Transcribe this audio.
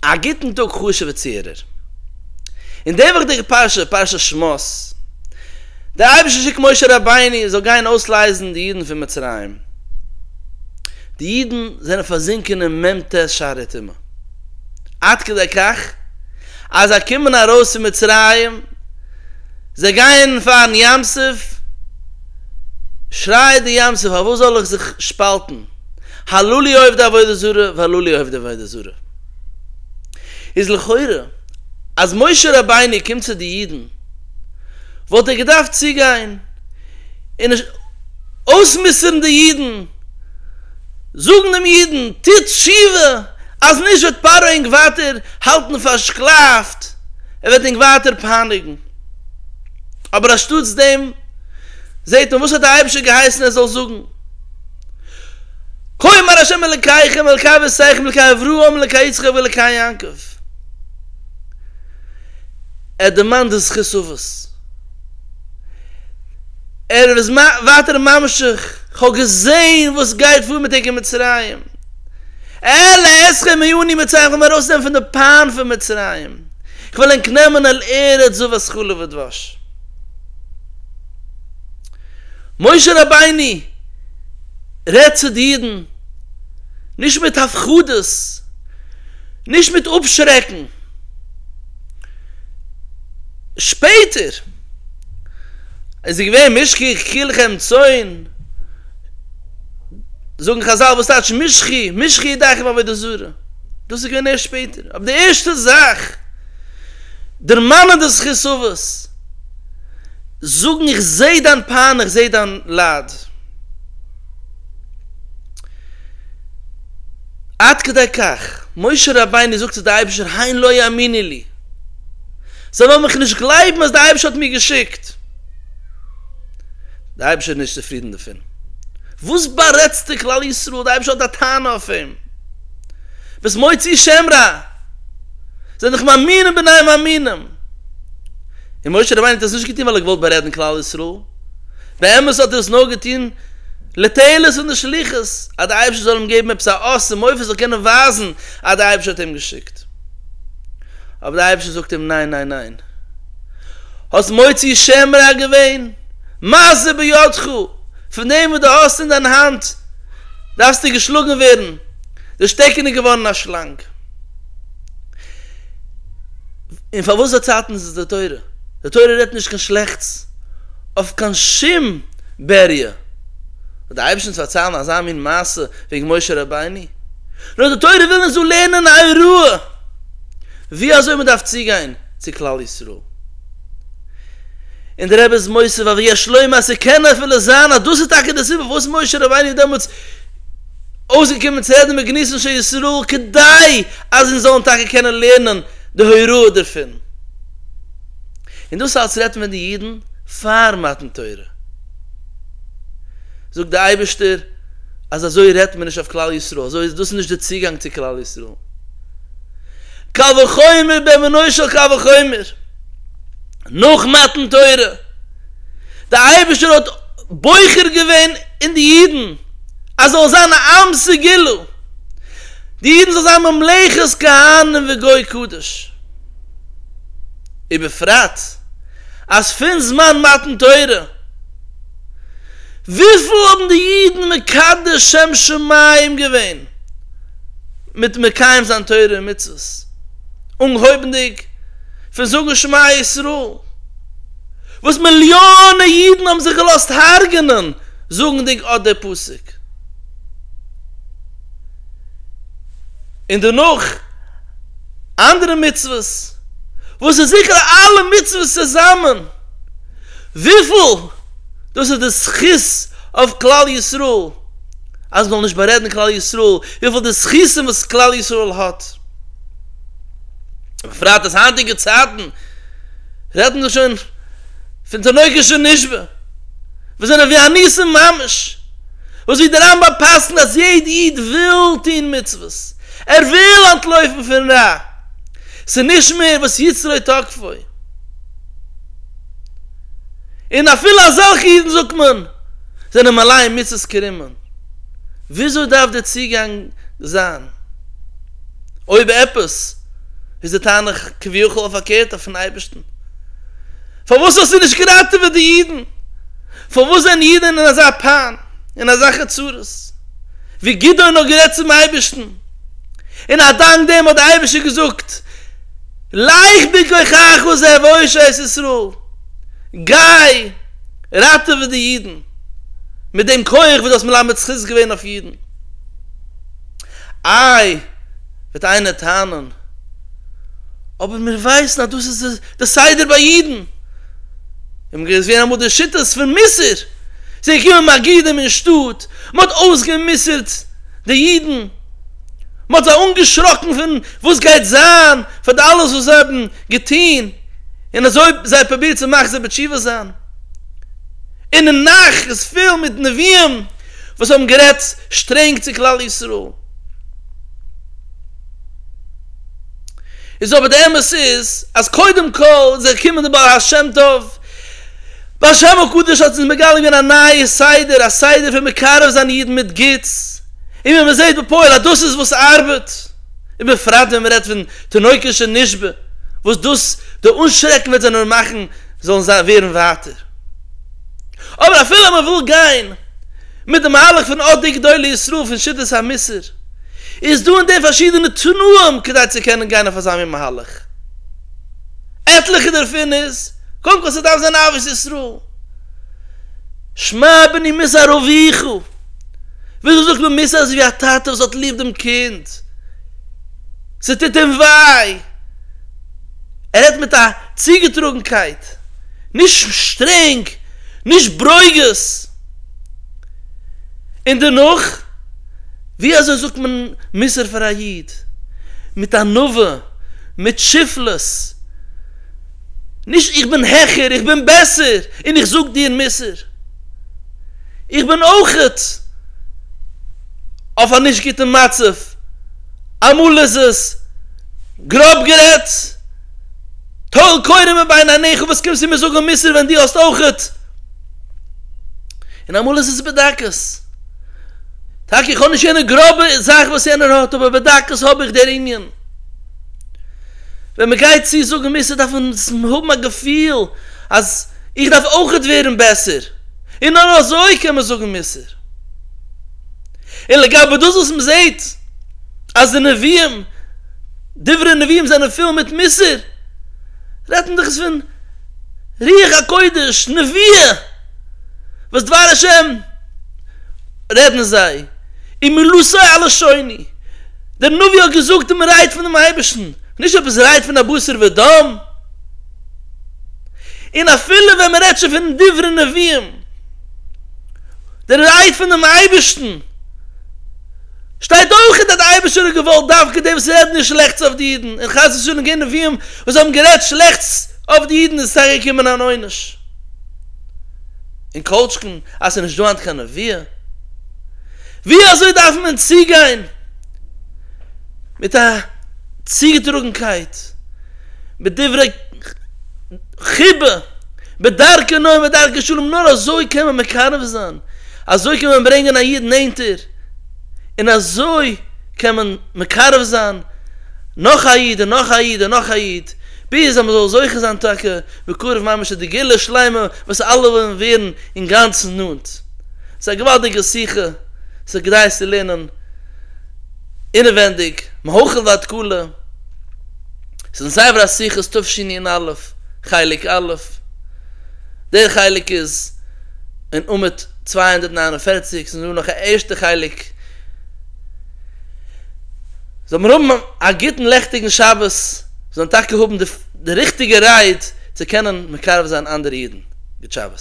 א גוטן טאג חשוב'ע צוהערער. אין די וואכדיגע פרשה, פרשת שמות, דער אייבערשטער שיקט משה רבינו זאל גיין אויסלייזן די אידן פון מצרים. די אידן זענען פארזינקען אין מ ט שערי טומאה. עד כדי כך אז זיי קומען ארויס פון מצרים, זיי גייען פארן ים סוף, שרייעט די ים סוף פארוואס זאל איך זיך שפאלטן? הלא לי עובדי עבודה זרה והלא לי עובדי עבודה זרה איז לכאורה אז משה רבינו קומט צו די אידן וואלט ער געדארפט צוגיין און אויסמוסר'ן די אידן זאגן דעם אידן טוט תשובה אז נישט וועט פרעה ענק ווייטער האלטן פארשקלאפט ער וועט ענק ווייטער פייניגן אבער אנשטאטס דעם זעט מען וואס האט די אייבערשטער געהייסן ער זאל זאגן. כה אמר השם אלקיכם אלקי אבותיכם אלקי אברהם אלקי יצחק ואלקי יעקב ער דערמאנט די זכות אבות ער איז ווייטער ממשיך כ'האב געזעהן וואס גייט פאר מיט ענק אין מצרים אעלה אתכם מעיני מצרים כ'וועל ענק ארויסנעמען פון די פיין פון מצרים כ'וועל ענק נעמען אל ארץ זבת חלב ודבש. משה רבינו רעדט צו די אידן, נישט מיט הפחדות, נישט מיט אפשרעקן. שפעטער איז ער געווען משכי כולכם צאן, זאגן חזל וואס טייטש משכי, משכי ידיכם עבודה זרה, דאס איז געווען ערשט שפעטער, אבער די ערשטע זאך דערמאנען די זכות אבות. זאגן איך זע דיין פיין איך זע דיין לייד עד כדי כך משה רבינו זאגט צו די אייבישטער הן לא יאמינו לי זיי וועלן מיך נישט גלייבן אז די אייבישטער האט מיר געשיקט די אייבישטער איז נישט צופרידן דערפון וואס בארעדסטו כלל ישראל די אייבישטער האט א טענה אויף אים וואס מוציא שם רע זיי זענען דאך מאמינים בני מאמינים. און משה רבינו האט עס נישט געטון ווייל ער האט געוואלט בארעדן כלל ישראל, באמת האט ער עס נאר געטון לתועלת פון די שליחות, אז דער אייבערשטער זאל אים געבן עפעס א אות און מופת, ער זאל קענען ווייזן אז דער אייבערשטער האט אים געשיקט. אבער דער אייבערשטער זאגט אים ניין ניין ניין. האסט מוציא שם רע געווען, מה זה בידך, פון דעם וואס דו האסט אין דיין האנט דארפסטו געשלאגן ווערן, די שטעקן איז געווארן א שלאנג. און פאר וואס פארצייטן איז עס די תורה? די תורה רעדט נישט קיין שלעכטס אויף קיין שום בעריה, וואס די אייבערשטן צו פארציילן אזא מין מעשה וועגן משה רבינו, נאר די תורה וויל אונז דא לערנען א הוראה ווי אזוי מען דארף צוגיין צו כלל ישראל, און דער רבי איז מוסיף אבי יש לומר ס'קען אפילו זיין אז דאס איז טאקע די סיבה פארוואס משה רבינו איז דעמאלטס. אויסגעקומען צו רעדן מיט געניס אנשי ישראל כדי אז אונז זאלן טאקע קענען לערנען די הוראה דערפון, און דאס אלץ רעדט מען די אידן פאר מתן תורה, זאגט די אייבערשטער אז אזוי רעדט מען נישט אויף כלל ישראל, אזוי איז דאס נישט די צוגאנג צו כלל ישראל, קל וחומר בענינו של קל וחומר נאך מתן תורה. דער אייבערשטער האט בוחר געווען אין די אידן אז זאל זיין א עם סגולה, די אידן זאל זיין ממלכת כהנים וגוי קדוש, ובפרט אז פון זמן מתן תורה וויפיל האבן די אידן מקדש שם שמים געווען מיט מקיים זיין תורה ומצוות, אנגהויבנדיג פון זאגן שמע ישראל, וואס מיליאנע אידן האבן זיך געלאזט הרג'נען זאגנדיג אט דער פסוק, און דערנאך אנדערע מצוות, וואס איז עיקר אלע מצוות צוזאמען, וויפיל דאס איז די זכות אויף כלל ישראל, אז מען זאל נישט בארעדן כלל ישראל, וויפיל די זכותים וואס כלל ישראל האט. בפרט אז היינטיגע צייטן רעדט מען שוין פון תינוקות שנשבו וואס זענען ווי א ניסים ממש, וואס ווי דער רמב ם פסק'נט אז יעדע איד וויל טון מצוות, ער וויל אנטלויפן פון רע, ס'איז נישט מער וואס יצרו תוקפו, און אפילו אזעלכע אידן זאגט מען זענען מלא מצוות כרימון, וויאזוי דארף דער צוגאנג זיין? אויב עפעס איז די טענה כביכול א פארקערטע פון אייבערשטן. פארוואס האסטו נישט געראטעוועט די אידן? פארוואס זענען אידן אין אזא פיין, אין אזעלכע צרות? ווי גדעון האט גערעדט צום אייבערשטן, און א דאנק דעם האט דער אייבערשטער געזאגט לך בכוחך וזה והושע את ישראל, גיי ראטעווע די אידן מיט דעם כח וואס דו האסט מלמד זכות געווען אויף אידן. איי, וועט איינער טענה'ן, אבער מיר ווייסן אז דאס איז די סדר ביי אידן. און געוויס ווערן אמאל די שיטות פון מוסר. ס'איז געקומען מגידים אין שטאט, מ'האט אויסגע'מוסר'ט די אידן, מ'האט זיי אנגעשראקן פון וואס גייט זיין פאר די אלעס וואס זיי האבן געטון, און אזוי זיי פרובירט צו מחזיר בתשובה זיין. און אין נך איז פול מיט נביאים. וואס האבן גערעדט שטרענג צו כלל ישראל, איז אבער די אמת איז אז קודם כל איז ער געקומען די בעל השם טוב, בעל השם הקדוש האט אונז מגלה געווען א נייע סדר, א סדר פון מקרב זיין אידן מיט גוטס, און ווי מען זעט בפועל אז דאס איז וואס ארבעט, ובפרט ווען מען רעדט פון תינוקות שנשבו, וואס דאס די אנשרעקן וועט זיי נאר מאכן זאלן ווערן ווייטער. אבער אפילו מען וויל גיין מיט די מהלך פון אט די גדולי ישראל פון שיטת המוסר, איז דא אין דעם פארשידענע תנאים כדי צו קענען גיין אויף אזא מין מהלך. עטליכע דערפון איז, קודם כל ס'דארף זיין אהבת ישראל. שמע בני מי זה אביך, וויאזוי זאגט מען מוסר אזויווי א טאטע וואס האט ליב דעם קינד, ס'טוט אים וויי, ער רעדט מיט א צוגעטראגנקייט, נישט שטרענג, נישט ברוגז. און דערנאך, ווי אזוי זאגט מען מוסר פאר א איד? מיט ענווה, מיט שפלות. נישט איך בין העכער, איך בין בעסער, און איך זאג דיר מוסר. איך בין אויכעט אויף א נישט גוטן מצב, אמאל איז עס גראב גערעדט, טול קורה מבין עיניך וואס קומסטו מיר זאגן מוסר ווען דו האסט אויכעט? און אמאל איז עס בדקות. טאקע איך האב נישט יענע גראבע זאך וואס יענער האט אבער בדקות האב איך דער ענין. ווען מען גייט צו זאגן מוסר דארף מען האבן א געפיל אז איך דארף אויכעט ווערן בעסער און נאר אזוי קען מען זאגן מוסר. און לגבי דאס וואס מען זעט אז די נביאים, דברי נביאים זענען פול מיט מוסר, רעדט מען דאך איז פון רוח הקודש, נביאה, וואס דבר השם רעדן זיי, און מלשון אל לשוני, דער נביא האט געזאגט און מען רייט פונעם אייבערשטן, נישט עפעס רייט פון א בשר ודם, און אפילו ווען מען רעדט שוין פון דברי נביאים, דער רייט פונעם אייבערשטן, שטייט אויך אין דער די אייבערשטער האט געוואלט דווקא די וואס רעדן נישט שלעכטס אויף די אידן און חס ושלום גיין נביאים וואס האבן גערעדט שלעכטס אויף די אידן איז טאקע געקומען אן עונש און קאלטשקן אז ס'איז נישט דא היינט קיין נביא ווי אזוי דארף מען צוגיין מיט א צוגעטראגנקייט מיט דברי חיבה בדרכי נועם ובדרכי שלום נאר אזוי קען מען מקרב זיין אזוי קען מען ברענגען א איד נענטער און אזוי קען מען מקרב זיין נאך א איד און נאך א איד און נאך א איד, ביז אז מען זאל זוכה זיין טאקע בקרוב ממש צו די גאולה שלימה וואס אלע ווילן ווערן אינגאנצן נאנט. ס'איז א געוואלדיגע שיחה, ס'איז כדאי עס צו לערנען אינעווענדיג, מהחל ועד כלה. ס'איז אין ספר השיחות תשע א, חלק א'. דער חלק איז. אין עמוד צוויי הונדערט נײַן און פֿערציק ס'איז דא נאך א ערשטע חלק. זאל מיר האבן א גוטן לעכטיגן שבת, זאל מען טאקע האבן די ריכטיגע רייד צו קענען מקרב זיין אנדערע אידן. גוט שבת.